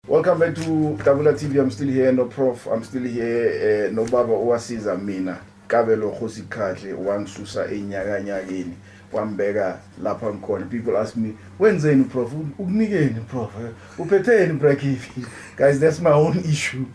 Welcome back to Tabula TV. I'm still here no prof. I'm still here uh, no baba owasiza mina kabelo khosi khahle wangisusa enyakanyakeni wambeka lapha ngikhona people ask me wenzeni prof ukunikeni prof uphetheni brakifi guys that's my own issue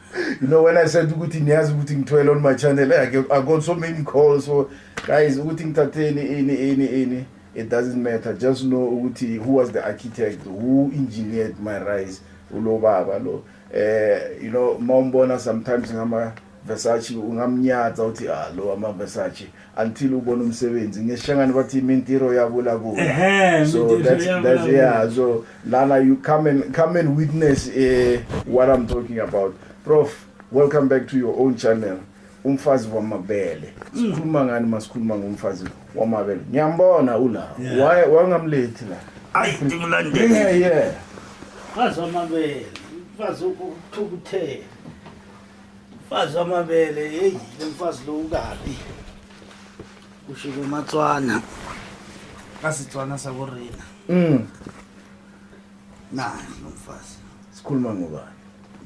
you know when i said ukuthi niyazi ukuthi ngithwele on my channel i got so many calls so guys ukuthi ngithatheni ini ini ini It doesn't matter just know ukuthi who was the architect who engineered my rise ulo baba lo eh you know mawumbona sometimes ngama Versace ungamnyatsa uthi ah lo ama Versace until ubona umsebenzi ngeshangani bathi imintiro yabo la ku so that's that's yeah so lana you come and come and witness eh what i'm talking about prof welcome back to your own channel umfazi wamabele sikhuluma ngani masikhuluma ngomfazi wamabele ngiyambona ula waye wangamlethi la ayi ngimlandele yeah mfazi wamabele mfazi ukuthukuthela mfazi wamabele hey lomfazi lo ukabi kusho kumatswana kasitswana sakurina mm naye lomfazi sikhuluma ngobani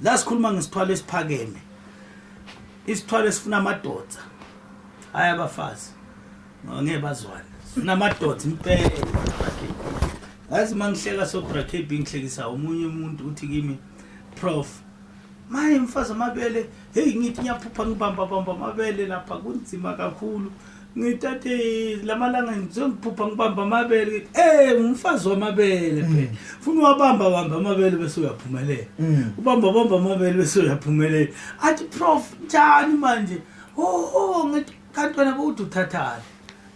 la sikhuluma ngesithwalo esiphakeme isithwalo esifuna amadoda hayi abafazi ngeke bazwane sifuna amadoda impela ngazi uma ngihleka sobra kb ngihlekisa omunye umuntu uthi kimi prof maye mfazi amabele heyi ngithi ngiyaphupha ngibambabamba amabele lapha kunzima kakhulu ngitate lamalanga sengiphupha ngibamba amabele ngithi eh ngumfazi wamabele Mm. phela funa uwabamba bamba amabele bese uyaphumelela Mm. ubamba bamba amabele bese uyaphumelela athi prof njani manje oh ngithi kanti wena bowuthi uthathani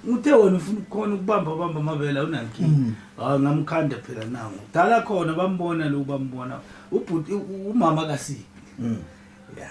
ngithe wena ufuna ukukhona ukubamba bamba amabele awunankinga Mm. hayi ngamkhanda phela nangu dala khona bambona lo bambona ubhuti u- u- umama kasiphi Mm. ya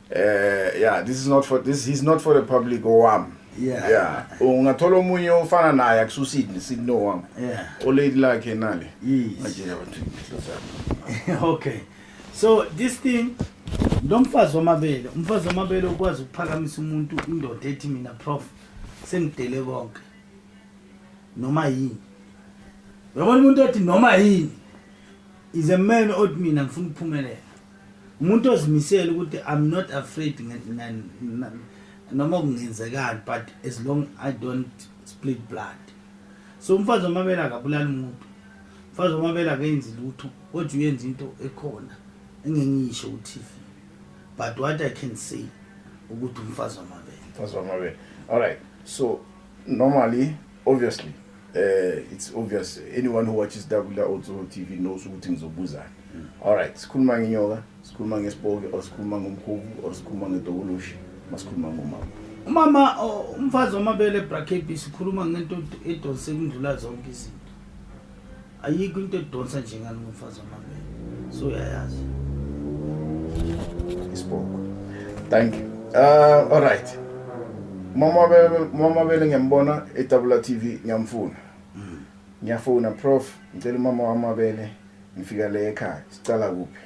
eh yeah this is not for this he's not for the public owami yeah yeah ungathola omunye ofana naye akususini sino wami yeah o lady lakhe nale yes manje abantu okay so this thing lo mfazi wamabele umfazi wamabele ukwazi ukuphakamisa umuntu indoda ethi mina prof sengidele konke noma yini uyabona umuntu othi noma yini is a man othi mina ngifuna ukuphumelela umuntu ozimisele ukuthi i'm not afraid noma kungenzekani but as long i don't split blood so umfazi omabela akabulali umuntu umfazi omabela akenzi lutho kodwa uyenza into ekhona engengiyisho ku-tv but what i can say ukuthi umfazi wamabela umfazi wamabela all right so normally obviously Uh, it's obvious anyone who watches Dakula also TV knows ukuthi ngizobuzana. Mm. All right, sikhuluma ngenyoka, sikhuluma ngesipoke, or sikhuluma ngomkhubu, or sikhuluma ngedokoloshi, masikhuluma ngomama. Umama umfazi omabele bracket sikhuluma ngento edonse kundlula zonke izinto. ayikho into edonsa nje ngani ngomfazi wamabele so uyayazi isibongo thank you uh, all right mama bele mama bele ngiyambona etabula tv ngiyamfuna mm. ngiyafuna prof ngicela umama wamabele ngifika le ekhaya sicala kuphi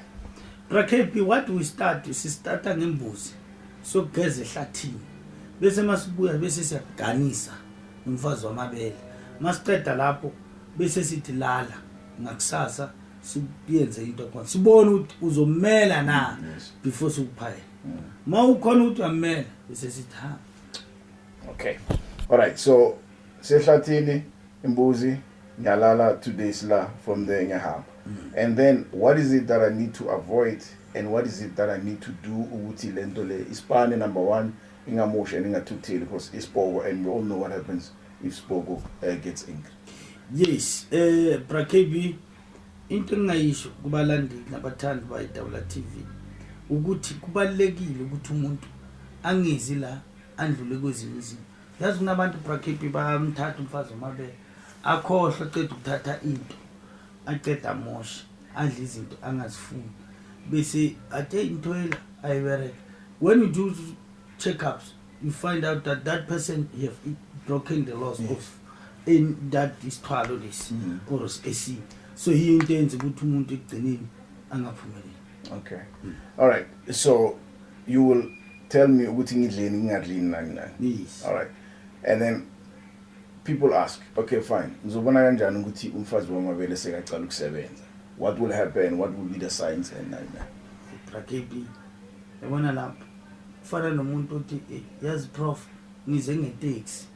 rakp what we start sistarta ngembuzi sokugeza ehlathini bese masibuya bese siyaganisa umfazi wamabele masiqeda lapho bese sithi lala ngakusasa siyenze into khona sibone ukuthi uzomela na before sikuphayela ma ukhona ukuthi uyamela bese sithi ha okay all right so sehlathini imbuzi ngiyalala two days la from there ngiyahamba mm. and then what is it that i need to avoid and what is it that i need to do ukuthi lento le isipane number one ingamusha ningathutheli because isibhoko and we all know what happens if Sboko uh, gets angry. Yes, eh uh, Bra KB into engayisho kubalandeli nabathandi bayi Dawula TV ukuthi kubalekile ukuthi umuntu angezi la andlule kwezinye izinto. Yazi kunabantu Bra KB bamthatha umfazi omabele akhohlwe cede ukuthatha into aceda amoshe adle izinto angazifuni bese athe into yela ayibereke when you do check-ups you find out that that person have broken the laws yes. of in that isithwalo lesi mm. or ac so yiyo into enza ukuthi umuntu ekugcineni angaphumeleli okay mm. all right so you will tell me ukuthi ngidleni ngingadlini nani nani yes. all right and then people ask okay fine ngizobona kanjani ukuthi umfazi wamabele sekacala ukusebenza what will happen what will be the signs and nani nani yabona lapho kufana nomuntu othi eh, yazi prof ngize ngeteksi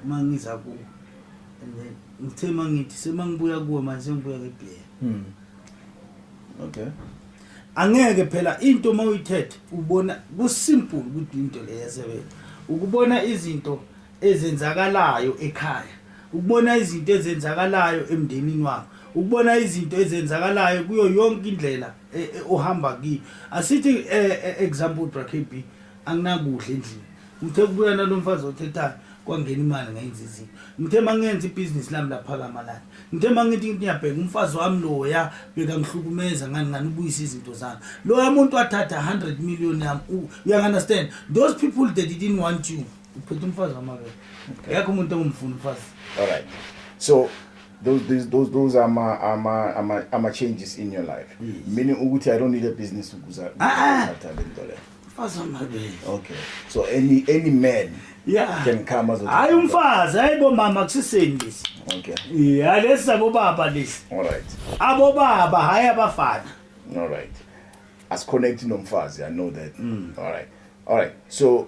uma ngiza kuwe and then ngithe uma ngithi semangibuya kuwe manje sengibuya ngebhera hmm. okay angeke phela into uma uyithethe ubona kusimple ukuthi into le yasebenza ukubona izinto ezenzakalayo ekhaya ukubona izinto ezenzakalayo emndenini wakho ukubona izinto ezenzakalayo kuyo yonke indlela eh, eh, uhamba kiyo asithi eh, example brakb anginakudla endlini ngithe kubuya nalo mfazi othethayo kwangena imali ngenza izinto ngithe uma ngenza ibhizinisi lami laphakama lani ngithe uma ngithi ngiyabheka umfazi wami loya bekangihlukumeza ngani ngani ubuyisa izinto zami loya muntu wathatha 100 million yami uyangunderstand those people that didn't want you uphethe umfazi wamabele akekho umuntu ongumfuni umfazi alright so those those those those are my are my are my, are my changes in your life yes. meaning ukuthi i don't need a business ukuza ah, ah. thatha lento le okay so any any man yeah can come as hayi umfazi hayibo mama kusiseni lesi okay yeah lesi sabo baba lesi all right abo baba hayi abafana all right as connect nomfazi i know that mm. all right all right so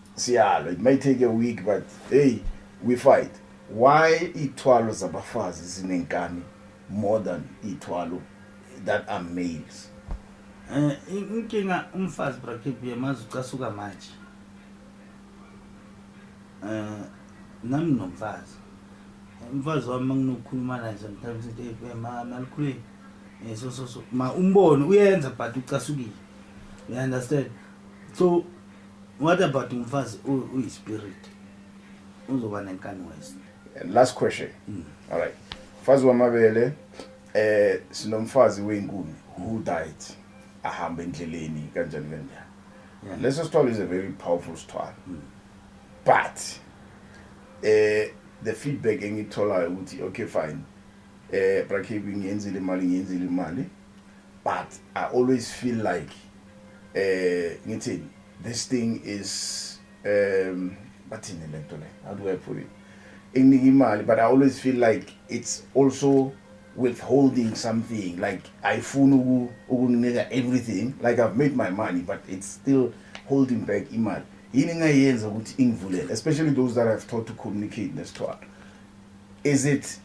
siyalwa it may take a week but hey we fight why ithwalo zabafazi zinenkani more than ithwalo that are males eh inkinga umfazi brakip yemazi ucasuka manje eh nami nomfazi umfazi wami manginokukhuluma naye sometimes ngithi eh, ma nalikhulile eh so so so ma umbone uyenza but ucasukile you understand so What about umfazi uyi spirit? Uzoba nenkani wesi. Last question. Mm. All right. Mfazi wamabele eh sinomfazi weyinkuni who died ahamba endleleni kanjani kanjani. Yeah. Leso sithwalo is a very powerful sithwalo. Mm. But eh the feedback engitholayo ukuthi okay fine eh brakhebi ngiyenzile imali ngiyenzile imali but i always feel like eh ngithi this thing is um bathini lento le how do i put it inginika imali but i always feel like it's also withholding something like ayifuni uku ukunika everything like i've made my money but it's still holding back imali yini engayenza ukuthi ingivulele especially those that i've taught to communicate nesithwalo is it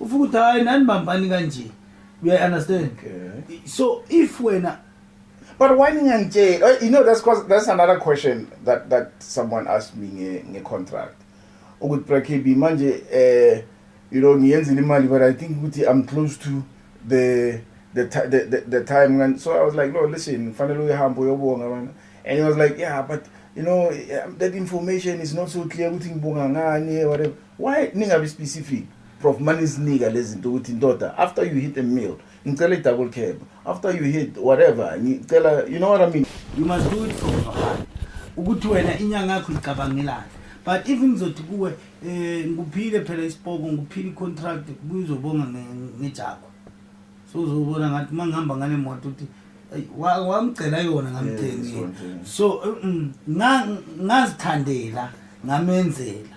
ufuka ukuthi hayi nanibambani kanje you understand okay. so if wena but why ningangitshela oh, you know that's cause that's another question that that someone asked me nge nge contract ukuthi brakb manje eh you know ngiyenzile imali but i think ukuthi i'm close to the the the, the, the time and so i was like no listen fanele uyihambe uyobonga bana and he was like yeah but you know um, that information is not so clear ukuthi ngibonga ngani whatever Why ningabi specific? Prof manizinika lezinto ukuthi ndoda after you hit a meal ngicela i double cab after you hit whatever ngicela you know what I mean? You must do it from your heart. Ukuthi wena inyanga yakho icabangelana. But if ngizothi kuwe eh ngikuphile phela isipoko ngikuphile icontract kuyizobonga ngejakho. So uzobona ngathi mangihamba ngale moto uthi wamcela yona ngamthengile. So ngazithandela ngamenzela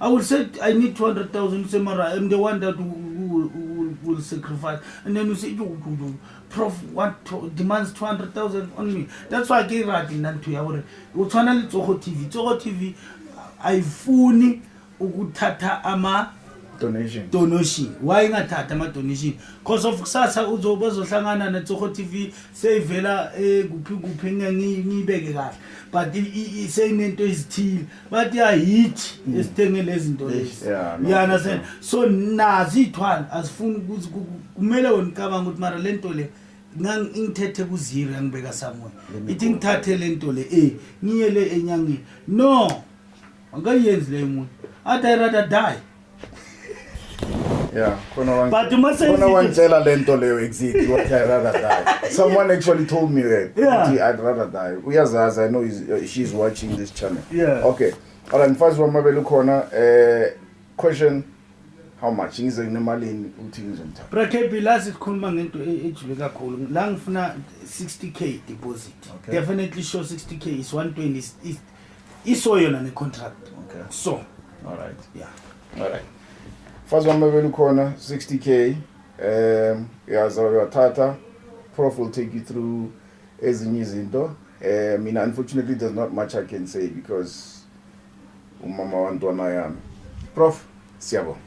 I will say I need 200,000 say mara I'm the one that will, will, will sacrifice and then you say you, you, you prof what to, demands 200,000 on me that's why ke rate nna ntho ya gore o tshwana le tsogo tv tsogo tv ayifuni ukuthatha ama donation donation why ingathatha ama donation because of kusasa uzobazohlangana ne tsogo tv seyivela eh kuphi kuphi ngiyibeke kahle but seyinento ezithile bathi ayithi mm. esithenge lezi zinto lezi you understand so nazi iy'thwala azifuni ukuthi kumele wena ucabanga ukuthi mara le nto le ngangithethe kuziro yangibeka samoya ithi ngithathe le nto le e ngiye le enyangeni no angayenzi leyo muntu athi i rather die Yeah, khona But you must say khona it- wangitshela lento leyo exactly what I rather die. Someone actually told me that. Yeah. ukuthi I'd rather die. Uyazazi I know he's, uh, she's watching this channel. Yeah. Okay. All right, mfazi wamabele ukhona eh question how much ngize nginemalini uthi ngizomthatha. Brakebi la sikhuluma ngento e- ejule kakhulu la ngifuna 60k deposit Okay. definitely sure 60k is 120 is, is iso yona ne contract okay so all right yeah all right fazi wami bebe lukhona 60k um uyaza uyathatha prof will take you through ezinye izinto eh mina unfortunately there's not much i can say because umama wantwana yami prof siyabonga